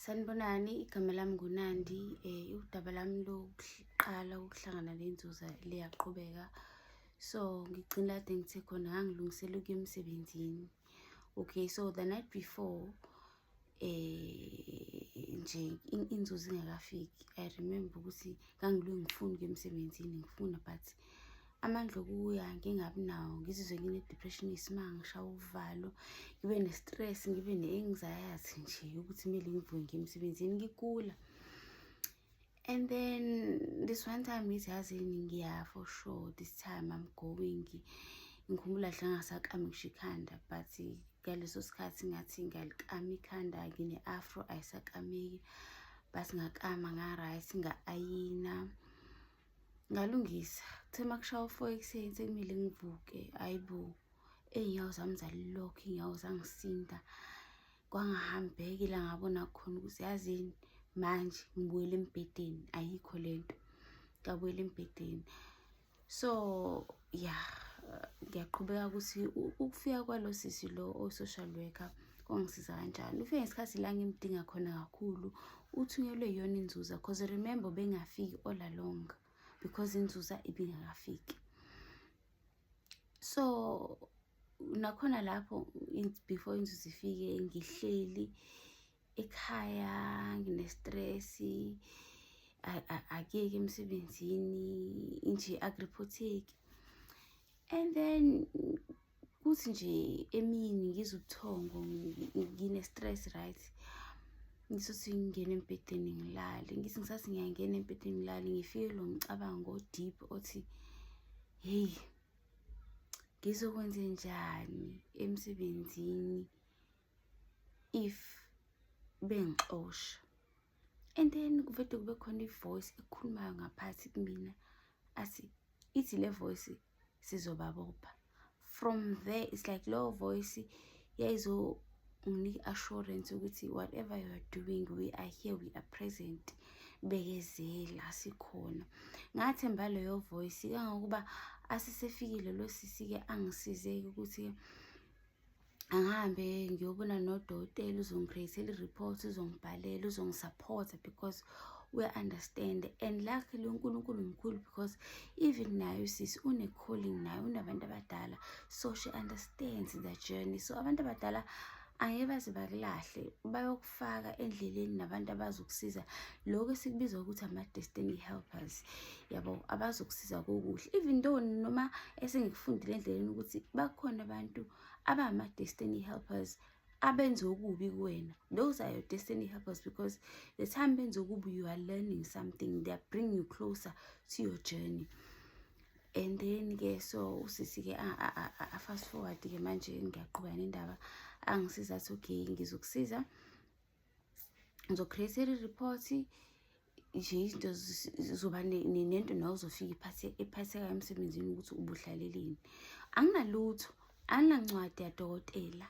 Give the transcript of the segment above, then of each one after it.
Sanibonani, igama lami nguNandi. Eh udaba lami lokuqala ukuhlangana lenzuza liyaqhubeka. So ngigcina kade ngithe khona ngangilungisela ukuya emsebenzini. Okay, so the night before eh nje inzuzo ingakafiki. I remember ukuthi ngangilwe ngifuna ukuya emsebenzini ngifuna but amandla okuya ngingabi nawo ngizizwe ngine-depression isimanga ngishawa uvalo ngibe ne-stress ngibe ne-anxiety nje yokuthi kumele ngivuke ngiye emsebenzini ngigula and then this one time ngithi yazini ngiya for sure this time i'm going ngikhumbula hle ngasakami ngisho ikhanda but ngaleso sikhathi ngathi ngiyalikama ikhanda ngine-afro ayisakameki but ngakama nga-right nga-ayina ngalungisa kuthe uma kushaya ufo ekuseni sekumele ngivuke ayi bo ey'nyawo zami zalilokhu iy'nyawo zangisinda kwangahambeki la ngabona khona ukuthi yazini manje ngibuyele embhedeni ayikho le nto ngabuyela embhedeni so ya ngiyaqhubeka ukuthi ukufika kwalo sisi lo o-social worker kwangisiza kanjani ufike ngesikhathi la ngimdinga khona kakhulu uthunyelwe iyona inzuza because remember bengafiki all along because inzuza ibingakafiki so nakhona lapho before inzuza ifike ngihleli ekhaya nginestresi akuyeki emsebenzini nje agripotheki and then kuthi nje emini ngizwe ubuthongo ngine-stress right ngisuthi ngingena embhedeni ngilale ngithi ngisathi ngiyangena embhedeni ngilale ngifike lo mcabango o-deep othi heyi ngizokwenze njani emsebenzini if bengixosha and then kuvede kube khona ivoice ekhulumayo ngaphathi kumina athi ithi le voice sizobabopha from there it's like lowo voice yayizonginika assurance ukuthi whatever you are doing we are here we are present bekezela sikhona ngathemba leyo voice kangangokuba asisefikile lo sisi-ke angisizeki ukuthi-ke angihambe ngiyobona nodokotela uzongicreatela i-report uzongibhalela uzongisupporta because uya-understand and luckily unkulunkulu mkhulu because even nayo sisi une-calling nayo unabantu abadala so she understands the journey so abantu abadala angeke baze bakulahle ukufaka endleleni nabantu abazokusiza lokho esikubiza ukuthi ama-destiny helpers yabo abazokusiza kokuhle even though noma esengikufundile endleleni ukuthi bakhona abantu abama-destiny helpers abenze okubi kuwena those are your destiny helpers because the time benze okubi you are learning something they are bring you closer to your journey and then ke so usisi ke a fast forward ke manje ngiyaqhuba nendaba angisiza athi okay ngizokusiza ngizocreate i-report nje izinto zoba nento nawe uzofika iphathe iphathekayo emsebenzini ukuthi ubuhlaleleni anginalutho anginancwadi yadokotela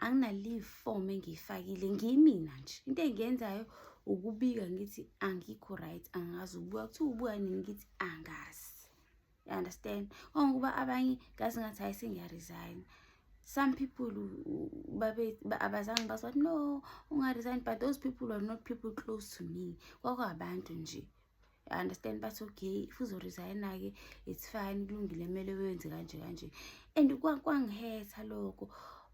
anginaleave form engiyifakile ngiyimina nje into engiyenzayo ukubika ngithi angikho right angazi ubuya kuthiwa ubuya nini ngithi angazi you understand ongokuba abanye ngazi ngathi hayi sengiyaresign some people abazange bazi bathi no ungaresign but those people are not people close to me kwakwabantu nje I understand bathi okay if uzoresigna-ke it's fine kulungile kumele wenze kanje kanje and kwangihetha lokho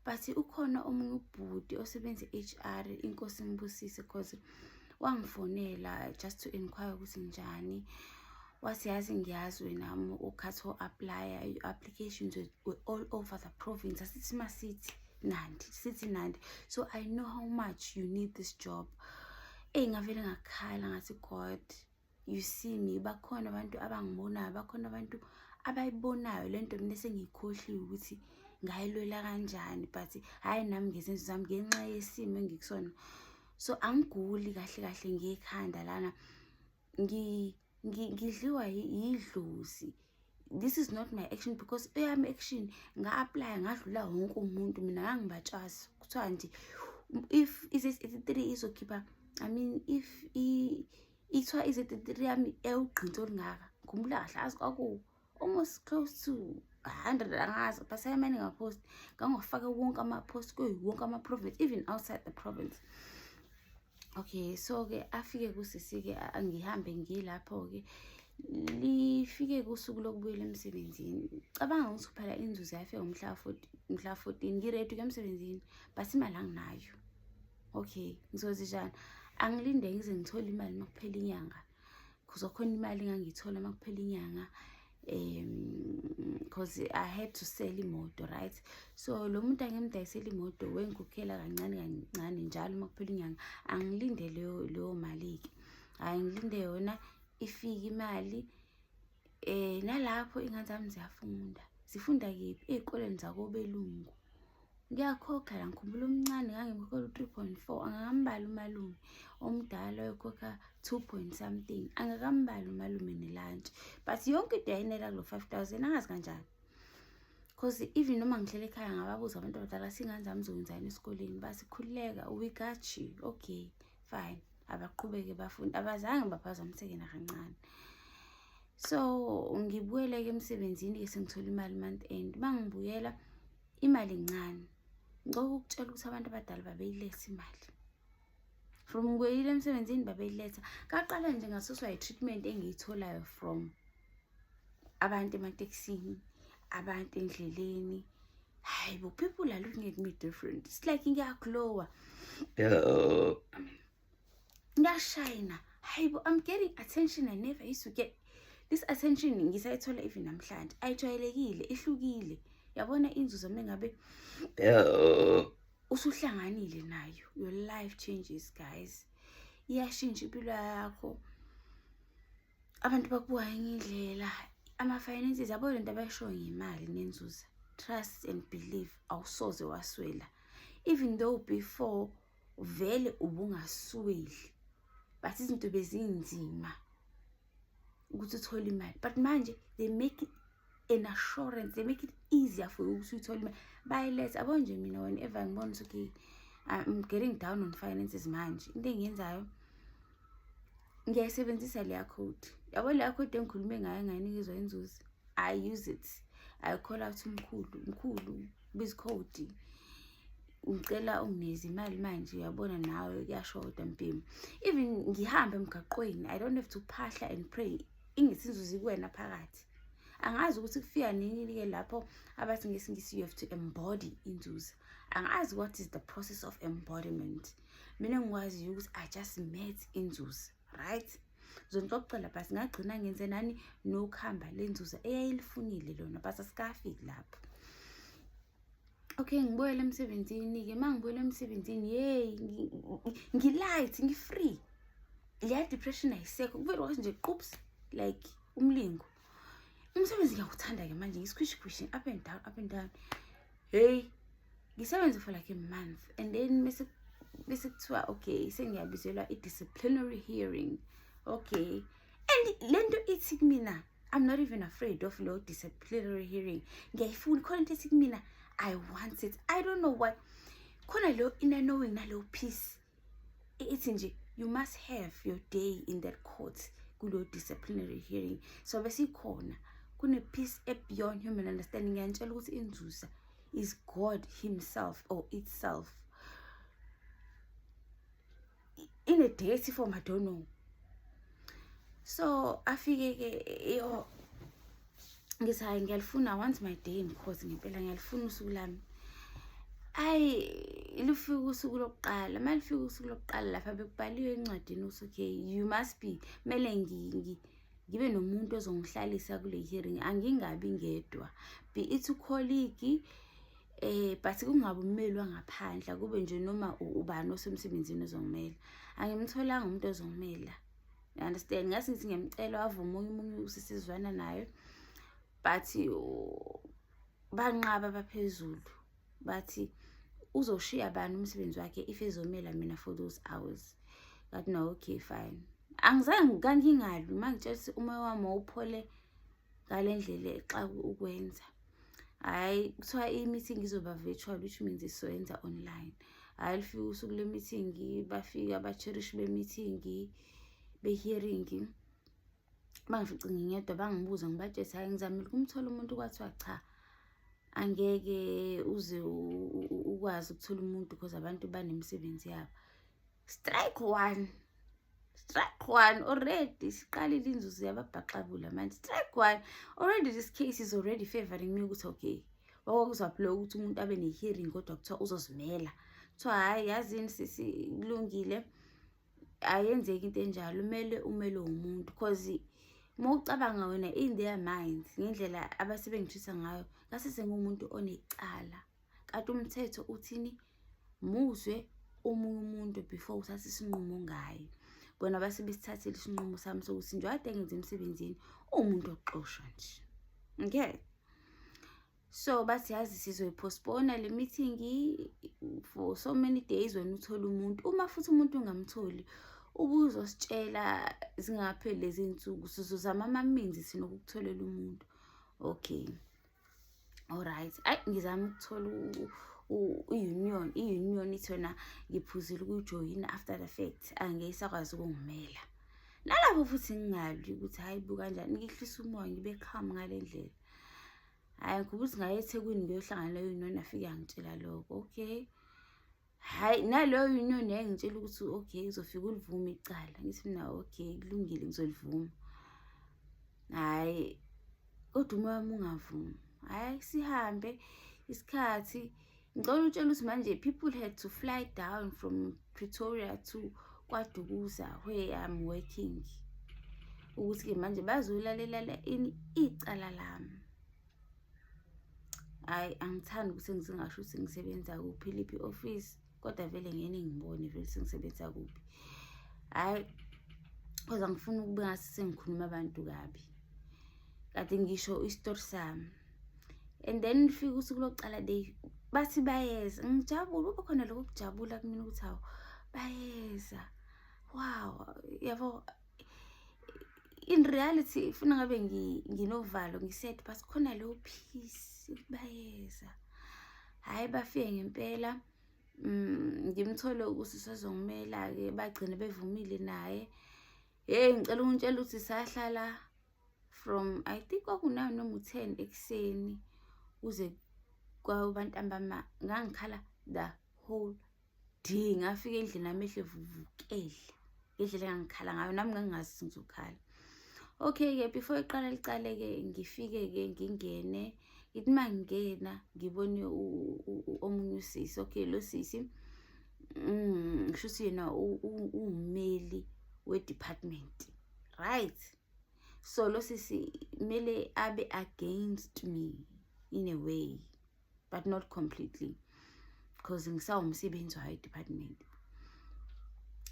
but ukhona omunye ubhuti osebenza i-HR inkosi imbusise because wangifonela just to inquire ukuthi njani wathi yazi ngiyazi wena ukhathi o-aplya i-applications all over the province asithi masithi nandi sithi nandi so i know how much you need this job eyi ngavele ngakhala ngathi god you see me bakhona abantu abangibonayo bakhona abantu abayibonayo le nto mina sengiyikhohliwe ukuthi ngayilwela kanjani but hhayi nami ngezenzo zami ngenxa yesimo engikusona so angiguli kahle kahle ngekhanda lana ngidliwa yidlozi this is not my action because eyami action nga-aplya ngadlula wonke umuntu mina ngangibatshasi kuthiwa nje if i-z83 izokhipha i mean if ithiwa i-z83 yami ewugqinsi olungaka ngikhumbula kahle azi kwakuwo almost close to 100 angazi but sayamane ngapost ngangofaka wonke amapost kuyo wonke ama-province even outside the province okay so-ke afike kusisi-ke ngihambe ngilapho-ke lifike kusuku lokubuyela emsebenzini cabanga ukuthi phela inzuzo yafika umhla mhla 14 ngiredu ke emsebenzini but imali anginayo okay ngizozijana angilinde ngize ngithole imali makuphela inyanga cause khona imali ngangiyithola uma kuphela inyanga um cause i had to sell imoto right so lo muntu angimdayisela imoto wengikhokhela kancane kancane njalo uma kuphela inyanga angilinde leyo leyo mali-ke hhayi ngilinde yona ifike imali Eh nalapho ingane zami ziyafunda. Zifunda kephi? Ezikoleni zakobelungu. Ngiyakhokha la ngikhumbula omncane ngangimkhokhela u-three point four angakambali umalume omdala oyokhokha two point something angakambali umalume nelantshi but yonke into yayinela kulo five thousand angazi kanjani cause even noma ngihlele ekhaya ngababuza abantu abadala singane zami zokwenzani esikoleni basikhululeka we got you okay fine abaqhubeke bafunde abazange baphazamiseke nakancane so ngibuyele-ke emsebenzini ke sengithola imali month end uma ngibuyela imali ncane ngicoko ukutshela ukuthi abantu abadala babeyiletha imali from ngibuyelile emsebenzini babeyiletha kaqala nje ngasuswa yi-treatment engiyitholayo from abantu ematekisini abantu endleleni hayi bo people are looking at me different it's like ngiyaglowa ngiyashayina hayi bo i'm getting attention i never used to get this attention ngisayithola even namhlanje ayijwayelekile ihlukile yabona inzuzo mengabe usuhlanganile nayo your life changes guys iyashintsha impilo yakho abantu bakubuka enye indlela ama-finances yabo le nto abayishoyo ngemali nenzuza trust and believe awusoze waswela even though before vele ubungasweli but izinto bezinzima ukuthi uthole imali but manje they make an assurance they make it easier for you ukuthi uthole imali bayilethe abo nje mina whenever ngibona ukuthi okay I'm getting down on finances manje into engiyenzayo ngiyayisebenzisa leya code yabo leya code engikhulume ngayo ngayinikizwa inzuzi i use it i call out umkhulu mkhulu bizikhodi ngicela ungineze imali manje uyabona nawe kuyashoda mpimo even ngihambe emgaqweni i don't have to phahla and pray ingesinzuzi kuwena phakathi angazi ukuthi kufika nini-ke lapho abathi ngesingisi you have to embody inzuzo angazi what is the process of embodiment mina engikwaziyo ukuthi i just met inzuzo right zonixoxela but ngagcina ngenze nani nokuhamba lenzuzo eyayilifunile lona but asikafiki lapho okay ngibuyele emsebenzini-ke uma ngibuyele emsebenzini yeyi ngi-light ngi-free leya depression ayisekho kuvele kwathi nje qups like umlingo umsebenzi ngiyawuthanda-ke manje ngisikhushikhushi up and down up and down heyi ngisebenze for like a month and then bese bese kuthiwa okay sengiyabizelwa i-disciplinary hearing okay and le nto ithi kumina-ke I'm not even afraid of low disciplinary hearing ngiyayifuna khona into ethi kumina I want it I don't know why khona lo inner knowing nalo peace ithi nje you must have your day in that court kulo disciplinary hearing so besikhona kune peace e beyond human understanding ngiyantshela ukuthi inzuza is God himself or itself in a dirty form i don't know so afike ke yo ngithi hayi ngiyalifuna once my day mkhosi ngempela ngiyalifuna usuku lami ayi lufika usuku lokuqala uma lufika usuku lokuqala lapha bekubhaliwe encwadini ukuthi okay you must be kumele ngibe nomuntu ozongihlalisa kule hearing angingabi ngedwa be it ucolleague Eh but kungabe ummelwa ngaphandle kube nje noma ubani osemsebenzini ozongimela. Angimtholanga umuntu ozongimela. You understand? Ngase ngithi ngiyamcela wavume umunye usisizwana naye. But banqaba baphezulu. Bathi uzoshiya bani umsebenzi wakhe if ezomela mina for those hours. But no okay fine. Angizange kangingalwi mangitshela ukuthi uma wami uphole ngalendlela exa ukwenza. hhayi kuthiwa i-meeting izoba virtual which means isoyenza online hhayi lufike usuku le-meeting bafike abacherishi be-meeting be-hearing bangifice ngingedwa bangibuza ngibatshese hhayi ngizamile ukumthola umuntu kwathiwa cha angeke uze ukwazi ukuthola umuntu because abantu banemisebenzi yabo strike one strike one already siqalile inzuzo yababhaxabula manje strike one already this case is already favoring me ukuthi okay wakwakuzwaphile ukuthi umuntu abe ne-hearing kodwa kuthiwa uzozimela kuthiwa hhayi yazini sisi kulungile ayenzeki into enjalo umele umele womuntu cause uma ucabanga wena in their minds ngendlela abasebengithisa ngayo ngase sengumuntu onecala Kanti umthetho uthini? Muzwe omunye umuntu before uthathe isinqumo ngaye. Bona base besithathile isinqumo sami sokuthi nje ade ngenze emsebenzini umuntu oxoshwa nje. Okay. So bathi yazi sizoyipostpona le meeting for so many days wena uthole umuntu. Uma futhi umuntu ungamtholi ubuzositshela zingapheli lezi nsuku sizozama amaminzi sinokukutholela umuntu. Okay. Alright. Ay ngizama ukuthola i-union i-union ithi yona ngiphuzile ukujoyina after the fact angeke isakwazi ukungimela nalapho futhi ngingalwi ukuthi hhayi bu kanjani ngihlisa umoya ngibe kham ngale ndlela hhayi ngikhubula ukuthi ngaye ethekwini ngiyohlangana leyo union afike angitshela lokho okay hhayi naloyo inyoni yayingitshela ukuthi okay uzofika ulivume icala ngithi mina okay kulungile ngizolivuma hhayi kodwa uma wami ungavumi hhayi sihambe isikhathi ngicela utshela ukuthi manje people had to fly down from pretoria to kwadukuza where i'm working ukuthi-ke manje bazolalela ini icala lami hhayi angithandi ukuthi ngisingasho ukuthi ngisebenza kuphi liphi i-ofisi kodwa vele ngene ngibone vele ukuthi ngisebenza kuphi hhayi kodwa ngifuna ukube ngathi sengikhuluma abantu kabi kade ngisho isitori sami and then lifike usuku lokuqala day bathi bayeza ngijabule kube khona lokho kujabula kumina ukuthi hawu bayeza wow yabo in reality ifuna ngabe nginovalo ngisaid but khona leyo peace bayeza hhayi bafike ngempela mm, ngimthole ukuthi sezongimela-ke bagcine bevumile naye yeyi ngicela ukuntshela ukuthi sahlala from i think kwakunayo noma u-ten ekuseni kuze kwabantambama ngangikhala the whole di ngafika endlini nami ehle vuvukele ngendlela engangikhala ngayo nami ngangingazi ngizokhala okay-ke before iqala liqale-ke ngifike-ke ngingene ngithi uma ngingena ngibone omunye usisi okay lo sisi mm, ngisho ukuthi yena uwumeli we-department right so lo sisi kumele abe against me in a way but not completely because ngisawumsebenzi wayo department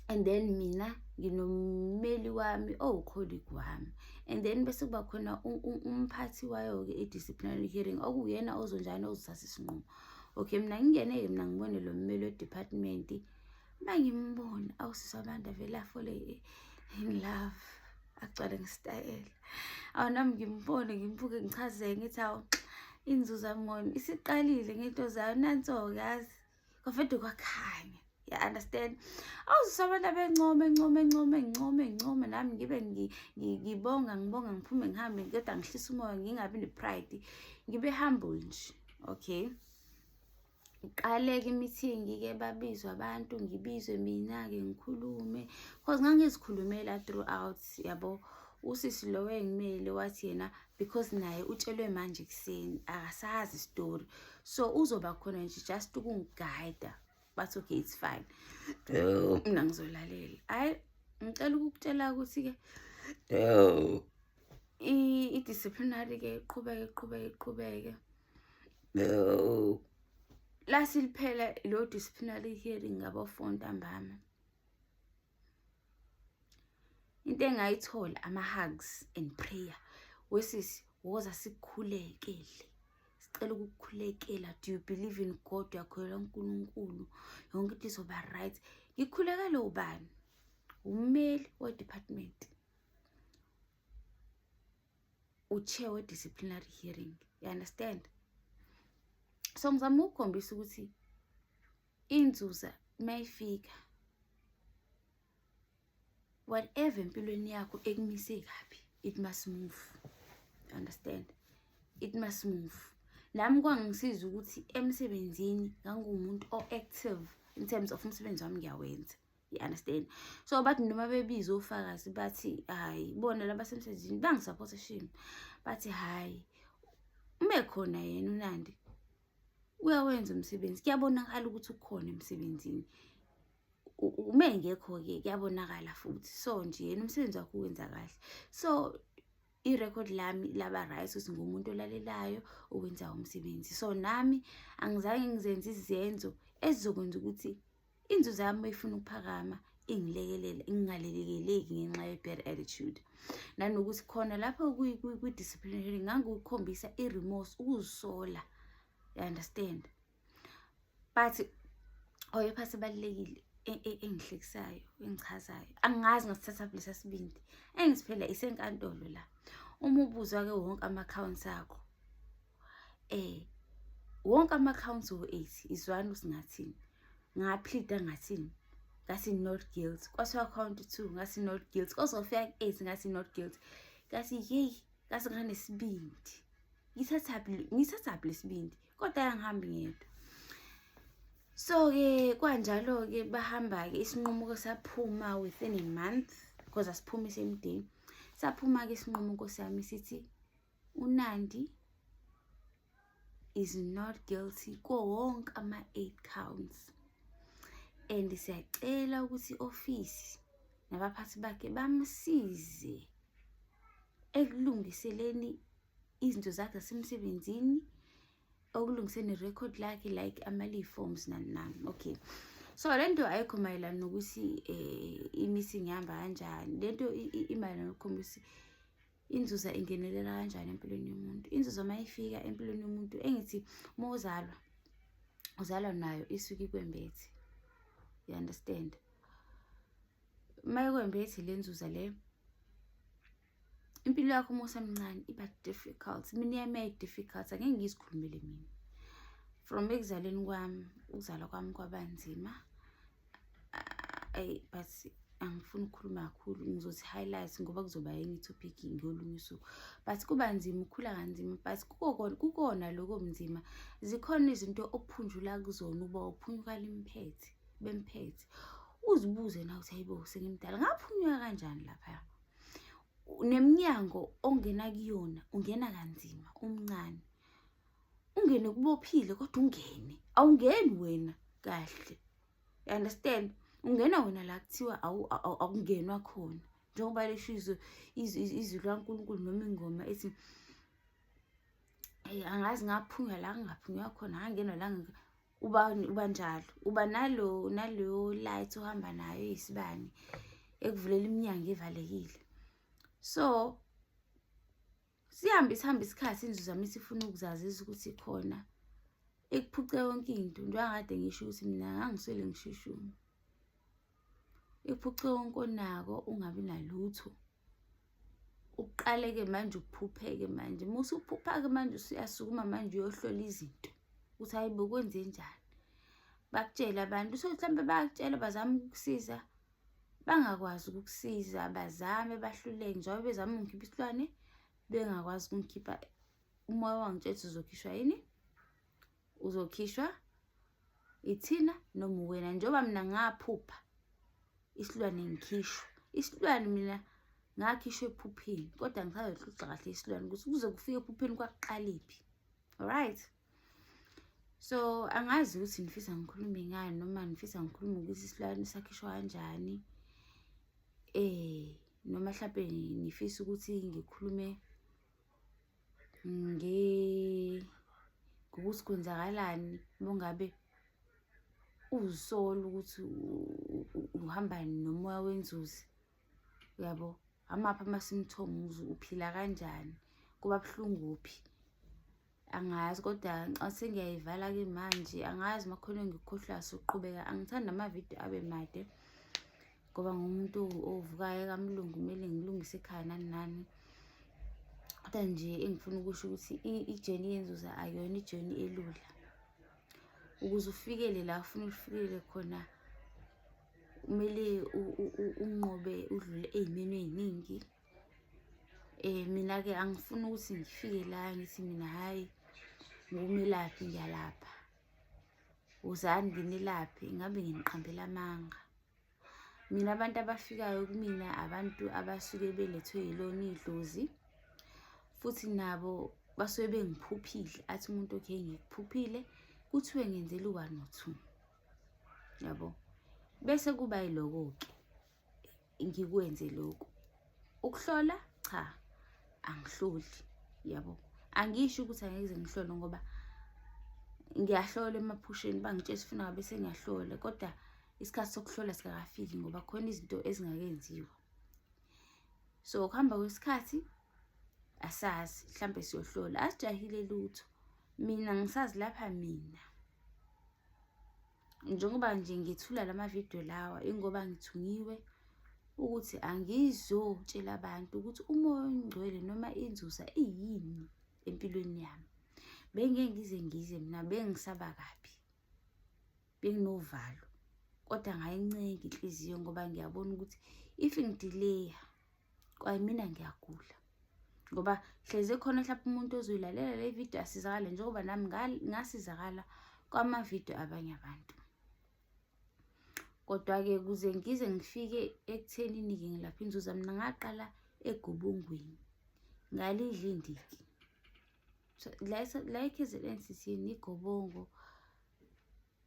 and then mina nginommeli wami owukholigi oh, wami and then bese kuba khona umphathi wayo-ke i-disciplinary hearing okuyena ozonjani ozothatha isinqumo okay mina ngingene-ke mina ngibone lo mmeli wedepartment uma ngimbona awusisi wamanda vele afole in love agcwale ngesitayela awu nami ngimbone ngimbuke ngichazeke ngithi awu inzuzo yami ngoyimi isiqalile ngento zayo nanso-ke yazi kwafede kwakhanya ya understand awuzise abantu abencome encome encome encome encome nami ngibe ngibonga ngibonga ngiphume ngihambe kodwa ngihlisa umoya ngingabi ne-pride ngibe humble nje okay ngiqaleke imithingi-ke babizwa abantu ngibizwe mina-ke ngikhulume cause ngangizikhulumela throughout yabo usisi lowo engimele wathi yena because naye utshelwe manje ekuseni akasazi isitori so uzoba khona nje just ukungigayida bathi okay it's fine mina ngizolalela hhayi ngicela ukukutshela ukuthi-ke i-disciplinary-ke iqhubeke iqhubeke iqhubeke No. Lasiliphela lo disciplinary hearing ngabafo ntambama. Into engayithola ama hugs and prayer. Wesisi woza sikukhulekele. Sicela ukukhulekela. Do you believe in God? Uyakholelwa uNkulunkulu. Yonke into izoba right. Ngikhulekele ubani? Ummeli we department. uchair we-disciplinary hearing you understand so ngizama ukukhombisa ukuthi inzuza uma ifika whatever empilweni yakho ekumise kabi it must move you understand it must move nami kwangisiza ukuthi emsebenzini nganguwumuntu o-active in terms of umsebenzi wami ngiyawenza you understand so bathi noma bebiza ofakazi bathi hayi bona labasemsebenzini bangisupporta shame bathi hayi uma ekhona yena unandi uyawenza umsebenzi kuyabonakala ukuthi ukhona emsebenzini uma engekho-ke kuyabonakala futhi so nje yena umsebenzi wakho uwenza kahle so i-record lami laba right ukuthi ngumuntu olalelayo owenza umsebenzi so nami angizange ngizenze izenzo ezizokwenza ukuthi inzuzo yami mayifuna ukuphakama ingilekelele ingalelekeleki ngenxa ye-bad attitude nanokuthi khona lapho kwi-disciplinary ngangikukhombisa i-remorse ukuzisola you understand but oyepha sebalulekile e, e, engihlekisayo engichazayo angazi ngasithatha kulesa sibindi engisiphela isenkantolo la uma ubuzwa-ke wonke ama-accounts akho eh wonke ama-counts wo-eight izwani ukuthi ngathini ngaphilida ngathini ngathi not guilt kwathiwa count two ngathi not guilt kozofika ku-eight ngathi not guilt ngathi yeyi ngathi nganesibindi ngithathaphi lesibindi kodwa yangihambi ngedwa so-ke kwanjalo-ke bahamba-ke isinqumuko saphuma within a month because asiphumise emdeni saphuma-ke isinqumuko sami sithi UNandi is not guilty kuwo wonke ama-eight counts and siyacela ukuthi i-ofisi nabaphathi bakhe bamsize ekulungiseleni izinto zakhe zasemsebenzini okulungiseni i-record lakhe like ama-leave forms nani nani okay so le nto ayikho mayelana nokuthi um eh, i-missing ihamba kanjani le nto imayelana nokukhombisa ukuthi inzuza ingenelela kanjani empilweni yomuntu inzuza uma ifika empilweni yomuntu engithi uma uzalwa uzalwa nayo isuke ikwembethi you understand uma ikwembethi le nzuza le impilo yakho uma usemncane iba difficult mina yami yayi-difficult angeke ngizikhulumele mina from ekuzaleni kwami ukuzalwa kwami kwabanzima ayi but angifuni ukukhuluma kakhulu ngizothi highlight ngoba kuzoba enye topic ngolunye usuku but kuba nzima ukhula kanzima but kukona kukona lokho mzima zikhona izinto okuphunjula kuzona uba uphunyukala imphethe bemphethe uzibuze na ukuthi hayibo sengimdala ngaphunyuka kanjani lapha nemnyango ongena kuyona ungena kanzima umncane ungene kubophile kodwa ungene awungeni wena kahle you understand ungena wena la kuthiwa akungenwa khona njengoba lisho izwi izwi likankulunkulu noma ingoma ethi um angazi ngaphunywa la ngingaphunywa khona ngangenwa la uba uba njalo uba nalo naleyo light ohamba nayo eyisibani ekuvulela iminyango evalekile so sihambe sihambe isikhathi inzuzo yami sifuna ukuzazisa ukuthi khona ikuphuce yonke into njengakade ngisho ukuthi mina ngangiswele ngishishuma ikuphuce wonke onako ungabi nalutho uqaleke manje ukuphupheke manje uma usuphupha-ke manje usuyasukuma manje uyohlola izinto ukuthi hayi bokwenze njani bakutshele abantu so mhlawumbe bayakutshela bazama ukukusiza bangakwazi ukukusiza bazame bahluleke njengoba bezama ukungikhipha isilwane bengakwazi ukungikhipha umoya wangitshetha uzokhishwa yini uzokhishwa ithina noma wena njengoba mina ngaphupha isilwane ngikhishwa isilwane mina ngakhishwa ephupheni kodwa ngisazoxoxa kahle isilwane ukuthi kuze kufike ephupheni kwaqaliphi alright so angazi ukuthi ngifisa ngikhulume ngani noma ngifisa ngikhulume ukuthi isilwane sakhishwa kanjani eh noma mhlawumbe ngifisa ukuthi ngikhulume nge ngokuthi kwenzakalani bongabe uzisola ukuthi uhamba nomoya wenzuzi uyabo amaphi ama-symptom uphila kanjani kuba buhlungu phi angazi kodwa ngicathi ngiyayivala-ke manje angazi uma khona ngikhohlwa suqhubeka angithandi amavidiyo abe made ngoba ngumuntu ovukayo kamlungu kumele ngilungise ekhaya nani nani kodwa nje engifuna ukusho ukuthi ijeni yenzuza ayona ijeni elula ukuze ufikele la ufuna ulifikele khona kumele unqobe udlule ey'meni ey'ningi Eh mina ke angifuni ukuthi ngifike la ngithi mina hayi ngumelaphi ngiyalapha. Uzani nginilaphi ngabe nginiqambela amanga. Mina abantu abafikayo kumina abantu abasuke belethwe yilona idlozi futhi nabo basuke bengiphuphile athi umuntu okhe ngikuphuphile kuthiwe ngenzela u-one or two yabo bese kuba yiloko-ke ngikwenze lokhu ukuhlola cha angihloli yabo angisho ukuthi angeke ngihlole ngoba ngiyahlola emaphusheni bangitshela sifuna ngabe sengiyahlola kodwa isikhathi sokuhlola sikakafiki ngoba khona izinto ezingakenziwa so ukuhamba kwesikhathi asazi mhlambe siyohlola asijahile lutho mina ngisazi lapha mina njengoba nje ngithula lama video lawa ingoba ngithungiwe ukuthi angizotshela abantu ukuthi umoya ongcwele noma inzuza iyini empilweni yami bengeke ngize ngize mina bengisaba kabi benginovalo kodwa ngayincenge inhliziyo ngoba ngiyabona ukuthi if ngidileya kwayimina ngiyagula ngoba hleze khona mhlawumbe umuntu ozoyilalela le video asizakale njengoba nami ngasizakala kwamavidiyo abanye abantu kodwa-ke kuze ngize ngifike ekuthenini-ke ngilapha inzuza mina ngaqala egubungwini ngalidla indiki so la ekzn sithini igobongo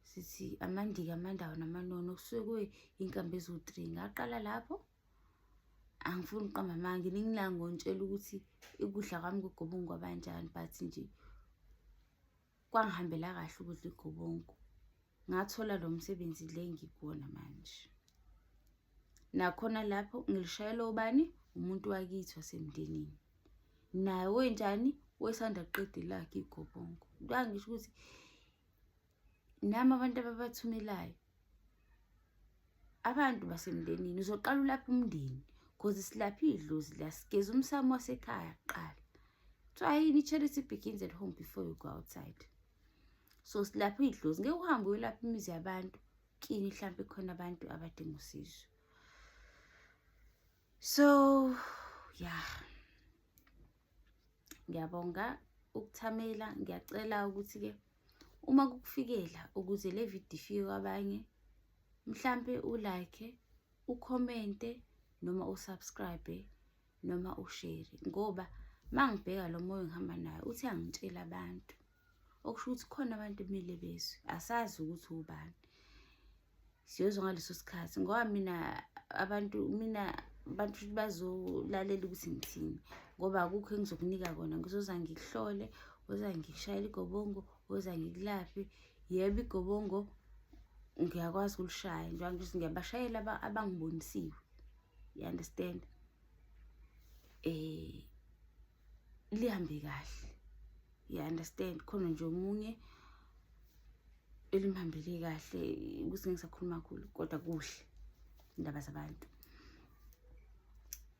sithi amandiki amandawo namanono kusuke kuyinkambi eziwu-three ngaqala lapho angifuni uqamba amanga ningilanga ngontshela ukuthi ikudla kwami kugobongo kwabanjani but nje kwangihambela kahle ukudla igobongo ngathola lo msebenzi le ngikuwona manje nakhona lapho ngilishayela ubani umuntu wakithi wasemndenini naye wenjani wesanda kuqeda ilakhe igobongo kwangisho ukuthi nami abantu ababathumelayo abantu basemndenini uzoqala ulapha umndeni cause silapha idlozi la sigeza umsamo wasekhaya kuqala kuthiwa yini i-charity begins at home before you go outside so silapha idlozi ngeke uhambe uyolapha imizi yabantu kini mhlawumpe khona abantu abadinga usizo so yeah ngiyabonga ukuthamela ngiyacela ukuthi ke uma kukufikela ukuze le video ifike kwabanye mhlampe ulike ukhomente noma usubscribe noma ushare ngoba mangibheka lo moya ngihamba naye uthi angitshela abantu okusho ukuthi khona abantu kumele bezwe asazi ukuthi ubani siyozwa ngaleso sikhathi ngoba mina abantu mina abantu futhi bazolalela ukuthi ngithini ngoba akukho engizokunika kona ngizoza ngikuhlole oza ngikushayela igobongo oza ngikulaphe yebo igobongo ngiyakwazi ukulishaya njengoba ngithi ngiyabashayela abangibonisiwe you understand um lihambe kahle you understand khona nje omunye elimhambele kahle ukuthi ngisakhuluma khulu kodwa kuhle indaba zabantu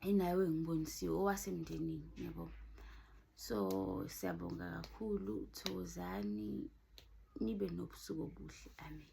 enayo engibonisiwe owasemndenini yabo so siyabonga kakhulu thokozani nibe nobusuku obuhle amen